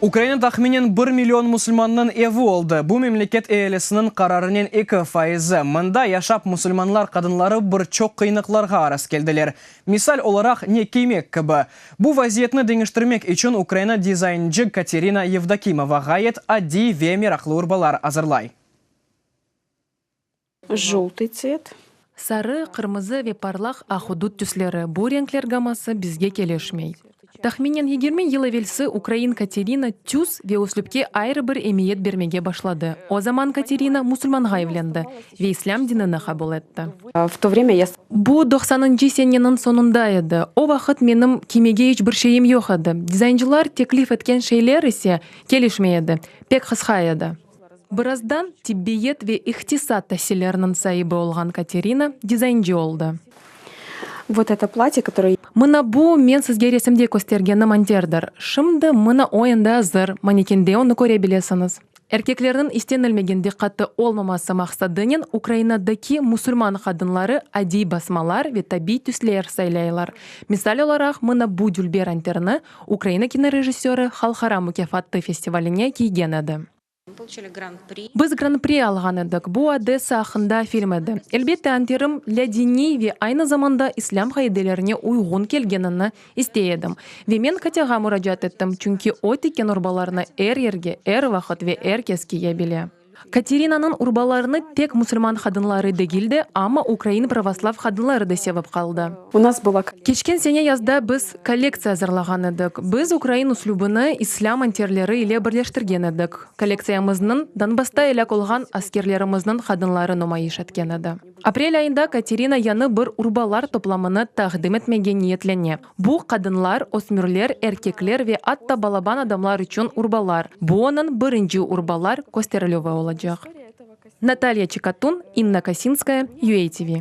Ukraina tahminen bir million musulmannıñ evi oldı, bu memleket ealisiniñ qararınen eki fayızı. Mında yaşap musulmanlar qadınları bir çoq qıyınıqlarğa araz keldiler. Misal olaraq, ne kiymek kibi. Bu vaziyetni deñiştirmek içün Ukraina dizaynci Katerina Yevdokimova ğayet adiy ve meraqlı urbalar azırlay. Jıltı tset. Sarı, qırmızı ve parlaq ahudut tüsleri, bu renkler gamması bizge keleşmey. Tahminen yigirmi yıl evelsi ukrain Katerina tüs ve üslüpke ayrı bir emiyet bermege başladı, o zaman Katerina musulmanğa evlendi ve islâm dinini qabul etti. Bu doqsanıncı seneniñ soñunda edi, o vaqıt menim kiymege iç bir şeyim yoq edi, dizaynçılar teklif etken şeyler ise keleşmey edi, pek qısqa edi. Birazdan tibbiyet ve ihtisat tasilleriniñ saibi olğan Katerina dizaynci oldı. Vot eto plâtye, kotoroye. Mına bu, men sizge resimde köstergeni monterdir. Şimdi mına o endi azır, manekende onı köre bilesiñiz. Erkeklerniñ istenilmegen diqqatı olmaması maqsadınen Ukrainadaki musulman qadınları adiy basmalar ve tabiy tüsler saylaylar. Misal olaraq, mına bu dülber anterni, Ukraina kinorejissöri halqara mukâfattı festivaline kiygen edi. Biz Gran-pri alğan edik, bu Odessa aqqında film edi. Elbette, anterim lâ diniy ve aynı zamanda islâm qaidelerine uyğun kelgenini istey edim. Ve men Katyağa muracaat ettim, çünki o tiken urbalarnı er yerge, er vaqıt ve er kes kiye bile. Katerinanıñ urbalarını tek musulman qadınları degil de, amma ukrain pravoslav qadınları da sevip qaldı. Keçken sene yazda biz kollektsiya azırlağan edik. Biz ukrain üslübini islâm enterleri ile birleştirgen edik. Kollektsiyamıznıñ Donbassta elâk olğan askerlerimizniñ qadınları numayış etken edi. Aprel ayında Katerina yañı bir urbalar toplamını taqdim etmege niyetlene. Bu, qadınlar, ösmürler, erkekler ve atta balaban adamlar içün urbalar. Bu onıñ birinci urbalar kösterilüvi olacaq. Natalya Çekatun, İnna Kasinskaya, UATV.